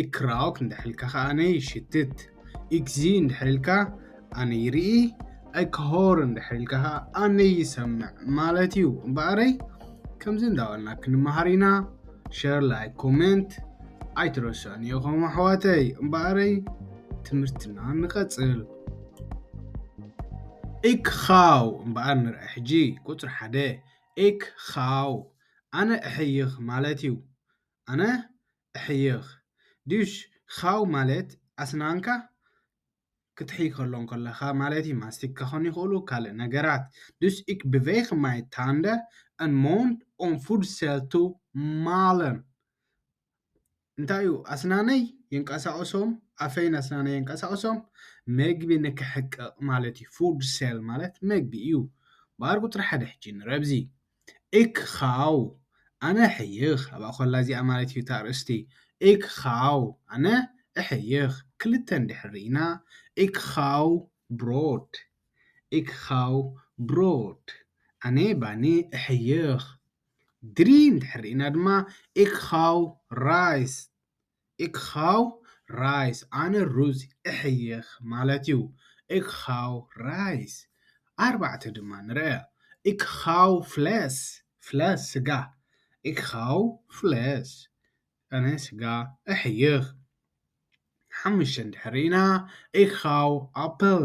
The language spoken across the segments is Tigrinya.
እክራውክ እንድሕር ኢልካ ከኣ ኣነ ይሽትት፣ ኢክዚ እንድሕር ኢልካ ኣነ ይርኢ፣ ኣይክሆር እንድሕር ኢልካ ከኣ ኣነ ይሰምዕ ማለት እዩ እምበኣረይ ከምዚ እንዳበልና ክንመሃር ኢና ሸር ላይክ ኮሜንት ኣይትረስዑን ኢኹም ኣሕዋተይ እምበኣረይ ትምህርትና ንቐጽል ኢክኻው እምበኣር ንርአ ሕጂ ቁፅሪ ሓደ ኢክኻው ኣነ እሕይኽ ማለት እዩ ኣነ እሕይኽ ድዩሽ ኻው ማለት ኣስናንካ ክትሕይ ከሎ እንከለኻ ማለት እዩ፣ ማስቲክ ከኾኑ ይኽእሉ ካልእ ነገራት። ዱስ ኢክ ብቨይክ ማይ ታንደ ኣን ሞንድ ኦን ፉድ ሰል ቱ ማለን እንታይ እዩ ኣስናነይ የንቀሳቕሶም ኣፈይን ኣስናነይ የንቀሳቕሶም መግቢ ንክሕቅቕ ማለት እዩ፣ ፉድ ሰል ማለት መግቢ እዩ። ባር ቁጽሪ ሓደ ሕጂ ንረብዚ። እክ ኻው ኣነ እሕይኽ ኣብኣ ኮላ እዚኣ ማለት እዩ እታ ኣርእስቲ እክ ኻው ኣነ እሕይኽ ክልተ እንድሕር ርኢና እክ ኻው ብሮድ እክ ኻው ብሮድ ኣነ ባኒ እሕይኽ ድሪ እንድሕር ርኢና ድማ እክ ኻው ራይስ ኢክ ሃው ራይስ፣ ኣነ ሩዝ እሕይኽ ማለት እዩ። ኢክ ሃው ራይስ፣ ኣርባዕተ ድማ ንርኣ። ኢክ ሃው ፍለስ፣ ፍለስ ስጋ፣ ኢክ ሃው ፍለስ፣ ኣነ ስጋ እሕይኽ። ሓሙሽተ እንድሕር ርኢና፣ ኢክ ሃው ኣፕል፣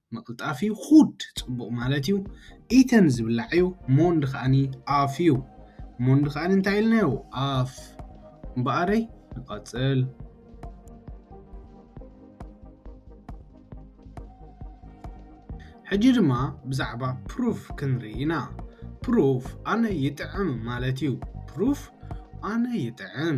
ምቕልጣፍ እዩ ኹድ ጽቡቕ ማለት እዩ ኢተን ዝብላዕ እዩ ሞንድ ከኣኒ ኣፍ እዩ ሞንድ ከኣኒ እንታይ ኢልናዮ ኣፍ እምበኣረይ ንቐጽል ሕጂ ድማ ብዛዕባ ፕሩፍ ክንርኢ ኢና ፕሩፍ ኣነ ይጥዕም ማለት እዩ ፕሩፍ ኣነ ይጥዕም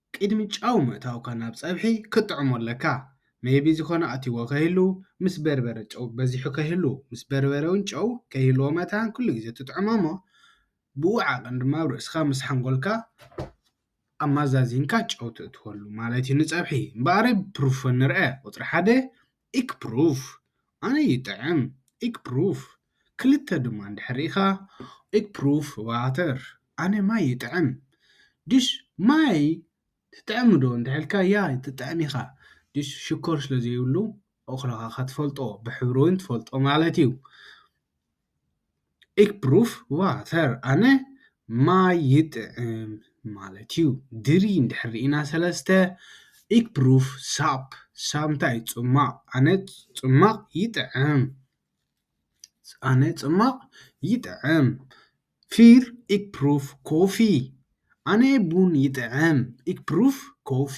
ቂድሚ ጨው ምእታውካ ናብ ጸብሒ ክትጥዕሞ ኣለካ ሜይቢ ዝኮነ ኣትይዎ ከይህሉ ምስ በርበረ ጨው በዚሑ ከይህሉ ምስ በርበረ ውን ጨው ከይህልዎ መታን ኩሉ ግዜ ትጥዕሞ እሞ ብኡ ዓቀን ድማ ኣብ ርእስካ ምስ ሓንጎልካ ኣማዛዚንካ ጨው ተእትወሉ ማለት እዩ ንጸብሒ እምበኣርይ ፕሩፍ ንርኣ ቁጽሪ ሓደ ኢክ ፕሩፍ ኣነ ይጥዕም ኢክ ፕሩፍ ክልተ ድማ እንድሕር ሪኢኻ ኢክ ፕሩፍ ዋተር ኣነ ማይ ይጥዕም ድሽ ማይ ትጥዕም ዶ እንድሕር ኢልካ ያ ትጥዕም ኢኻ ድሽ ሽኮር ስለ ዘይብሉ ኦኽሎኻኻ ትፈልጦ ብሕብሪ ውን ትፈልጦ ማለት እዩ። ኢክ ብሩፍ ዋተር ኣነ ማይ ይጥዕም ማለት እዩ ድሪ እንድሕር ርኢና ሰለስተ ኢክ ብሩፍ ሳፕ ሳብ እንታይ እዩ ጽማቕ ኣነ ጽማቕ ይጥዕም ኣነ ጽማቕ ይጥዕም ፊር ኢክ ብሩፍ ኮፊ ኣነ ቡን ይጥዕም ኢክ ብሩፍ ኮፊ።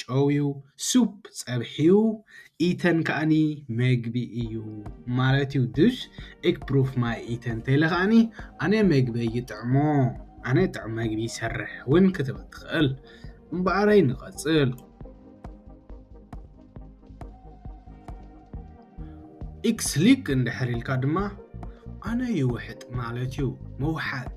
ጨውዩ ሱፕ ጸብሒዩ ኢተን ከኣኒ መግቢ እዩ ማለትዩ ዱሽ እክ ፕሩፍ ማይ ኢተን ተይለ ከኣኒ ኣነ መግበይ ይጥዕሞ ኣነ ጥዑም መግቢ ይሰርሕ ውን ክትብል ትክእል እምበኣረይ ንቀጽል ኢክስ ሊክ እንድሕር ኢልካ ድማ ኣነ ይውሕጥ ማለትዩ ምውሓጥ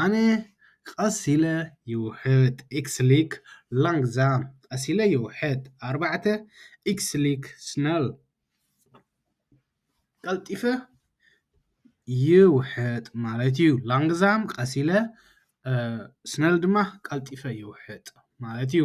ኣነ ቐስ ኢለ ይውሕጥ ኢክስሊክ ላንግዛም ቐስ ኢለ ይውሕጥ ኣርባዕተ ኢክስሊክ ስነል ቐልጢፈ ይውሕጥ ማለት እዩ ላንግዛም ቐስ ኢለ ስነል ድማ ቐልጢፈ ይውሕጥ ማለት እዩ።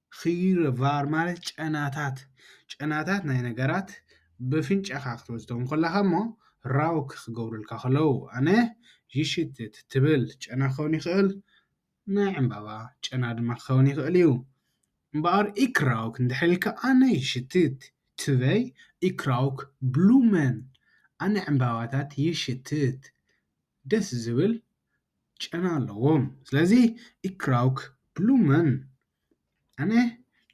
ኺይረ ቫር ማለት ጨናታት ጨናታት ናይ ነገራት ብፍንጫኻ ክትወስዶም ኮላኻ እሞ ራውክ ክገብሩልካ ከለው ኣነ ይሽትት ትብል ጨና ክኸውን ይኽእል ናይ ዕምባባ ጨና ድማ ክኸውን ይኽእል እዩ እምበኣር ኢክ ራውክ እንድሕር ኢልካ ኣነ ይሽትት ትበይ ኢክ ራውክ ብሉመን ኣነ ዕምባባታት ይሽትት ደስ ዝብል ጨና ኣለዎም ስለዚ ኢክራውክ ብሉመን ኣነ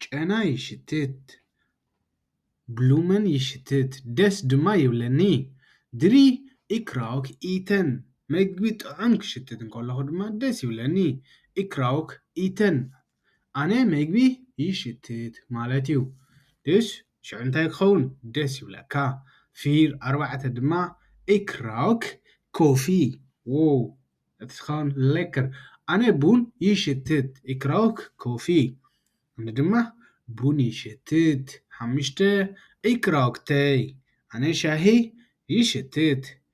ጨና ይሽትት ብሉመን ይሽትት ደስ ድማ ይብለኒ ድሪ ኢክራውክ ኢተን መግቢ ጥዑም ክሽትት እንከለኹ ድማ ደስ ይብለኒ ኢክራውክ ኢተን ኣነ መግቢ ይሽትት ማለት እዩ ድሽ ሽዑ እንታይ ክኸውን ደስ ይብለካ ፊር ኣርባዕተ ድማ ኢክራውክ ኮፊ ዎው እቲ ዝኸውን ለከር ኣነ ቡን ይሽትት ኢክራውክ ኮፊ ኣነ ድማ ቡን ይሽትት ሓምሽተ ኢክራውክ ተይ ኣነ ሻሂ ይሽትት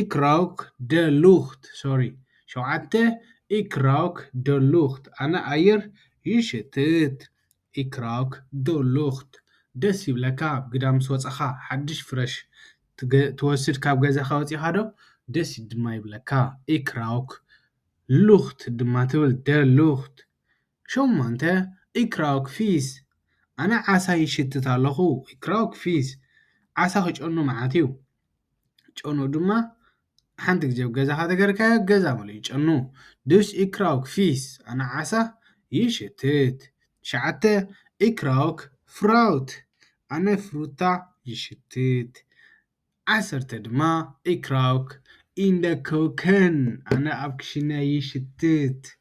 ኢክ ራውክ ደር ሉክት ሶሪ ሸውዓተ ኢክ ራውክ ደር ሉክት ኣነ ኣየር ይሽትት ኢክ ራውክ ደር ሉክት ደስ ይብለካ ኣብ ግዳ ምስ ወጻኻ ሓድሽ ፍረሽ ትወስድ ካብ ገዛኻ ወጺኻ ዶ ደስ ድማ ይብለካ ኢክ ራውክ ሉክት ድማ ትብል ደር ሉክት ሸሞንተ ኢክ ራውክ ፊስ ኣነ ዓሳ ይሽትት ኣለኹ ኢክ ራውክ ፊስ ዓሳ ክጨኑ መዓት እዩ። ጨኑ ድማ ሓንቲ ግዜ ኣብ ገዛኻ ተገርካዮ ገዛ መሊኡ ጨኑ ዱሽ ኢክራውክ ፊስ ኣነ ዓሳ ይሽትት ትሽዓተ ኢክራውክ ፍራውት ኣነ ፍሩታ ይሽትት ዓሰርተ ድማ ኢክራውክ ኢንደ ኮከን ኣነ ኣብ ክሽነ ይሽትት።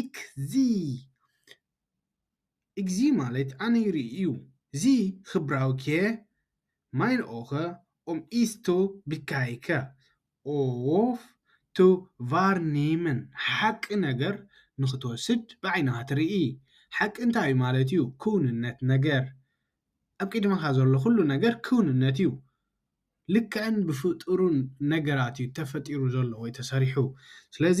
ኢክዚ ኢክዚ ማለት ኣነ ይርኢ እዩ ዚ ኽብራዊ ክየ ማይን ኦኸ ኦም ኢስቶ ቢካይከ ኦፍ ቱ ቫርኒምን ሓቂ ነገር ንኽትወስድ ብዓይንኻ ትርኢ ሓቂ እንታይ እዩ ማለት እዩ ክውንነት ነገር ኣብ ቂድመኻ ዘሎ ኹሉ ነገር ክውንነት እዩ ልክዕን ብፍጡሩን ነገራት እዩ ተፈጢሩ ዘሎ ወይ ተሰሪሑ ስለዚ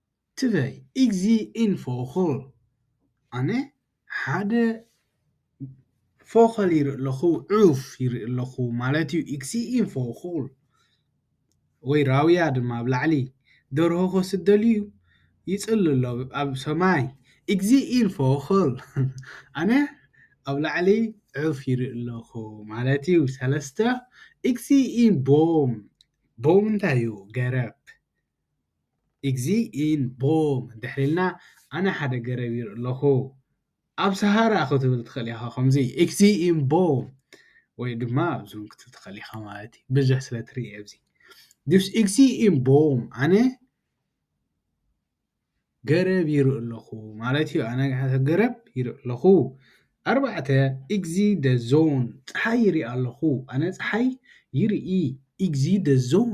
ትበይ ኢግዚ ኢንፎ ኹል ኣነ ሓደ ፎኸል ይርኢ ኣለኹ ዑፍ ይርኢ ኣለኹ ማለት እዩ ኢግዚ ኢንፎ ኹል ወይ ራውያ ድማ ኣብ ላዕሊ ደርሆ ክወስድ ደልዩ ይጽሊ ኣሎ ኣብ ሰማይ ኢግዚ ኢንፎ ኹል ኣነ ኣብ ላዕሊ ዑፍ ይርኢ ኣለኹ ማለት እዩ ሰለስተ ኢግዚ ኢን ቦም ቦም እንታይ እዩ ገረብ እግዚእን ቦም እንድሕር ኢልና ኣነ ሓደ ገረብ ይርኢ ኣለኹ ኣብ ሰሃራ ክትብል ትኽእል ኢኻ ከምዚ እግዚእን ቦም ወይ ድማ ኣብዞም ክትብል ትኽእል ኢኻ ማለት እዩ ብዙሕ ስለ ትርኢ ኣብዚ ዱስ እግዚእን ቦም ኣነ ገረብ ይርኢ ኣለኹ ማለት እዩ ኣነ ገረብ ይርኢ ኣለኹ ኣርባዕተ እግዚ ደዞን ፀሓይ ይርኢ ኣለኹ ኣነ ፀሓይ ይርኢ እግዚ ደዞን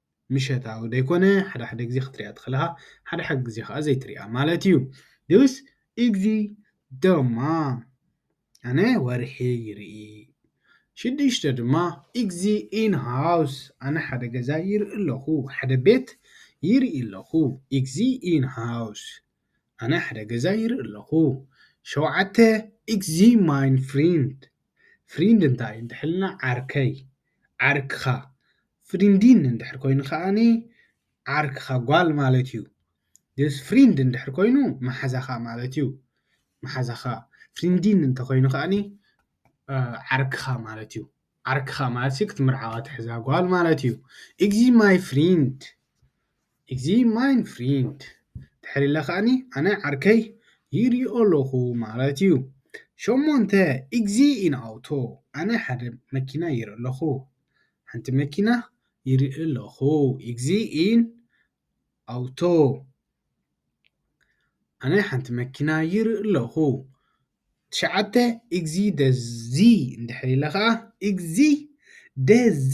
ምሸታዊ ደይኮነ ሓደ ሓደ ግዜ ክትሪኣ ትኽእልኻ ሓደ ሓደ ግዜ ከኣ ዘይትሪኣ ማለት እዩ ዱስ ኢግዚ ደማ ኣነ ወርሒ ይርኢ ሽዱሽተ ድማ ኢግዚ ኢን ሃውስ ኣነ ሓደ ገዛ ይርኢ ኣለኹ ሓደ ቤት ይርኢ ኣለኹ ኢግዚ ኢን ሃውስ ኣነ ሓደ ገዛ ይርኢ ኣለኹ ሸውዓተ ኢግዚ ማይን ፍሪንድ ፍሪንድ እንታይ እንድሕር ኢልና ዓርከይ፣ ዓርክኻ፣ ፍሪንዲን እንድሕር ኮይኑ ከኣኒ ዓርክኻ ጓል ማለት እዩ። ስ ፍሪንድ እንድሕር ኮይኑ መሓዛኻ ማለት እዩ። መሓዛኻ ፍሪንዲን እንተኾይኑ ከኣኒ ዓርክኻ ማለት እዩ። ዓርክኻ ማለት ክትምርዓዋ ትሕዛ ጓል ማለት እዩ። ኢዚ ማይ ፍሪንድ ኢዚ ማይን ፍሪንድ ድሕሪ ኢለ ከኣኒ ኣነ ዓርከይ ይሪኦ ኣለኩ ማለት ኢዩ ሸሞንተ ኢዚ ኢን ኣውቶ ኣነ ሓደ መኪና ይርኢ ኣለኩ ሓንቲ መኪና ይርኢ ኣለኩ ኢዚ ኢን ኣውቶ ኣነ ሓንቲ መኪና ይርኢ ኣለኩ ትሽዓተ ኢዚ ደዚ ኢዚ ደዚ።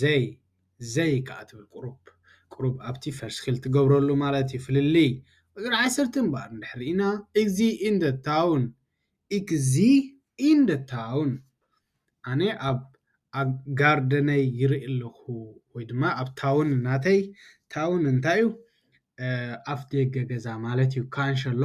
ዘይ ዘይ ከኣ ትብል ቁሩብ ቁሩብ ኣብቲ ፈሽኪል ትገብረሉ ማለት እዩ ፍልልይ ቁጽሪ ዓሰርተ እምበኣር እንድሕር ርኢና ኢዚ ኢን ዘ ታውን ኢክዚ ኢን ዘ ታውን ኣነ ኣብ ኣብ ጋርደነይ ይርኢ ኣለኹ ወይ ድማ ኣብ ታውን ናተይ ታውን እንታይ እዩ ኣፍ ደገ ገዛ ማለት እዩ ካንሸሎ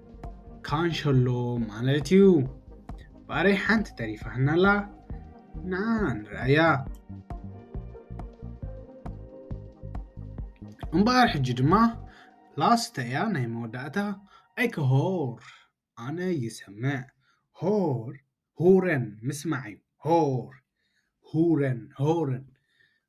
ካንሸሎ ማለት እዩ ባረይ ሓንቲ ተሪፋና ኣላ ንዓ ንርኣያ እምበኣር ሕጂ ድማ ላስተ እያ ናይ መወዳእታ ኣይከሆር ኣነ ይሰምዕ ሆር ሁረን ምስማዕ እዩ ሆር ሁረን ሆረን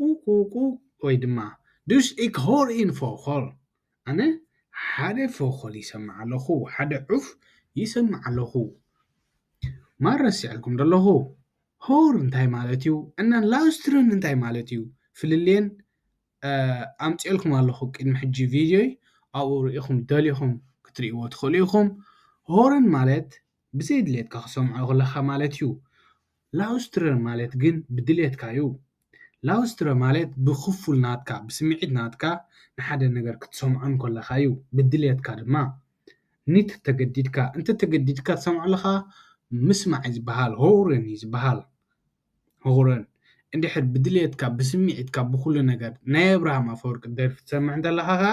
ቁቁቁ ወይ ድማ ዱስ ኢክ ሆር ኢን ፎኾል ኣነ ሓደ ፎኾል ይሰምዕ ኣለኹ ሓደ ዑፍ ይሰምዕ ኣለኹ ማር ረሲዐልኩም ዶ ኣለኹ ሆር እንታይ ማለት እዩ እና ላውስትርን እንታይ ማለት እዩ ፍልልየን ኣምጺኤልኩም ኣለኹ ቅድሚ ሕጂ ቪድዮይ ኣብኡ ርኢኹም ደሊኹም ክትርእይዎ ትኽእሉ ኢኹም ሆርን ማለት ብዘይ ድሌትካ ክሰምዖ ክለካ ማለት ዩ ላውስትረ ማለት ግን ብድሌትካ ዩ ላውስትረ ማለት ብክፉል ናትካ ብስምዒት ናትካ ንሓደ ነገር ክትሰምዖ እንከለካ ዩ ብድሌትካ ድማ ኒት ተገዲድካ እንተ ተገዲድካ ትሰምዖ ኣለካ ምስማዕ ዩ ዝባሃል ሆውረን ዩ ዝባሃል ሆውረን እንድሕር ብድሌትካ ብስምዒትካ ብኩሉ ነገር ናይ ኣብርሃም ኣፈወርቂ ደርፊ ትሰምዕ እንተለካ ከኣ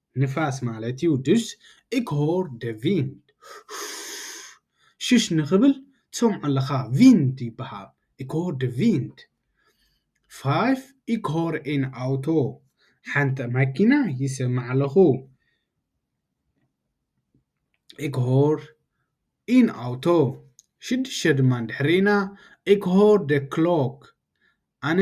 ንፋስ ማለት እዩ ድስ ኢክ ሆር ደ ቪንድ ሽሽ ንክብል ትሰምዖ ኣለካ ቪንድ ይበሃል ኢክ ሆር ደ ቪንድ ፋይፍ ኢክ ሆር ኤን ኣውቶ ሓንተ ማኪና ይሰምዕ ኣለኩ ኢክ ሆር ኢን ኣውቶ ሽድሽተ ድማ ድሕሪና ኢክ ሆር ደ ክሎክ ኣነ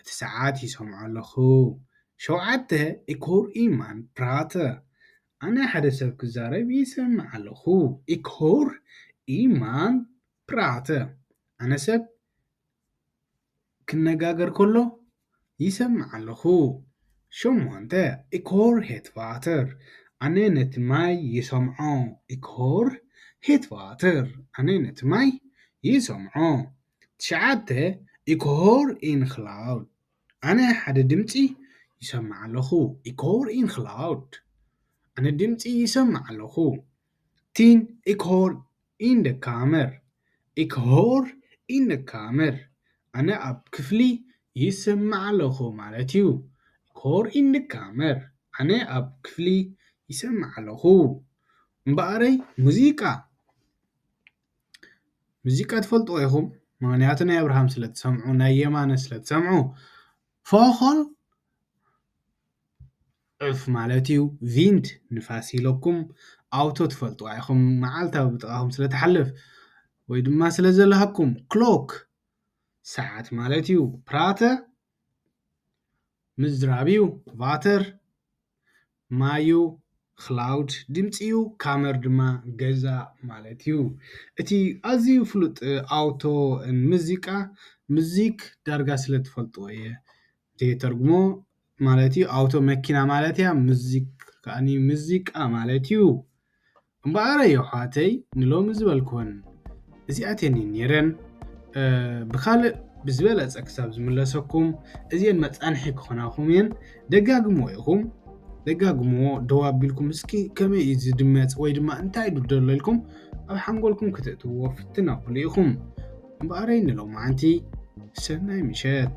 እቲ ሰዓት ይሰምዖ ኣለኹ ሸውዓተ ኢክ ሆር ኢ ማን ፕራተ ኣነ ሓደ ሰብ ክዛረብ ይሰምዕ ኣለኹ ኢክ ሆር ኢ ማን ፕራተ ኣነ ሰብ ክነጋገር ከሎ ይሰምዕ ኣለኹ ሸሞንተ ኢክ ሆር ሄት ቫተር ኣነ ነቲ ማይ ይሰምዖ ኢክ ሆር ሄት ቫተር ኣነ ነቲ ማይ ይሰምዖ ትሽዓተ ኢኮር ኢን ክላውድ ኣነ ሓደ ድምጺ ይሰምዕ ኣለኹ ኢኮር ኢን ክላውድ ኣነ ድምጺ ይሰምዕ ኣለኹ ቲን ኢኮር ኢን ደ ካመር ኢኮር ኢን ደ ካመር ኣነ ኣብ ክፍሊ ይሰምዕ ኣለኹ ማለት እዩ ኢኮር ኢን ደ ካመር ኣነ ኣብ ክፍሊ ይሰምዕ ኣለኹ እምበኣረይ ሙዚቃ። ሙዚቃ ትፈልጥዎ ኢኹም ምኽንያቱ ናይ ኣብርሃም ስለ ትሰምዑ ናይ የማነ ስለ ትሰምዑ ፎኾል ዑፍ ማለት እዩ ቪንት ንፋስ ኢለኩም ኣውቶ ትፈልጥዋ ኢኹም መዓልታ ኣብ ጥቓኹም ስለ ትሓልፍ ወይ ድማ ስለ ዘለሃኩም ክሎክ ሰዓት ማለት እዩ ፕራተ። ምዝራብ'ዩ ቫተር፣ ማይ'ዩ ኽላውድ፣ ድምጺ'ዩ ካመር ድማ ገዛ ማለት'ዩ። እቲ ኣዝዩ ፍሉጥ ኣውቶ ን ምዚቃ፣ ምዚክ ዳርጋ ስለ ትፈልጥዎ እየ ዘይተርጉሞ ማለት'ዩ፣ ኣውቶ መኪና ማለት'ያ፣ ምዚክ ከኣ ምዚቃ ማለት'ዩ። እምበኣር የሕዋተይ ንሎሚ ዝበልክወን እዚኣተን እየን ነይረን ብካልእ ብዝበለጸ ክሳብ ዝምለሰኩም እዚኤን መጻንሒ ክኾናኹም እየን ደጋግምዎ ኢኹም ደጋግምዎ ደው ኣቢልኩም እስኪ ከመይ እዩ ዝድመጽ ወይ ድማ እንታይ ዩ ደሎ ኢልኩም ኣብ ሓንጎልኩም ክተእትውዎ ፍትን ኣብሉ ኢኹም እምበኣረይ ንሎማዓንቲ ሰናይ ምሸት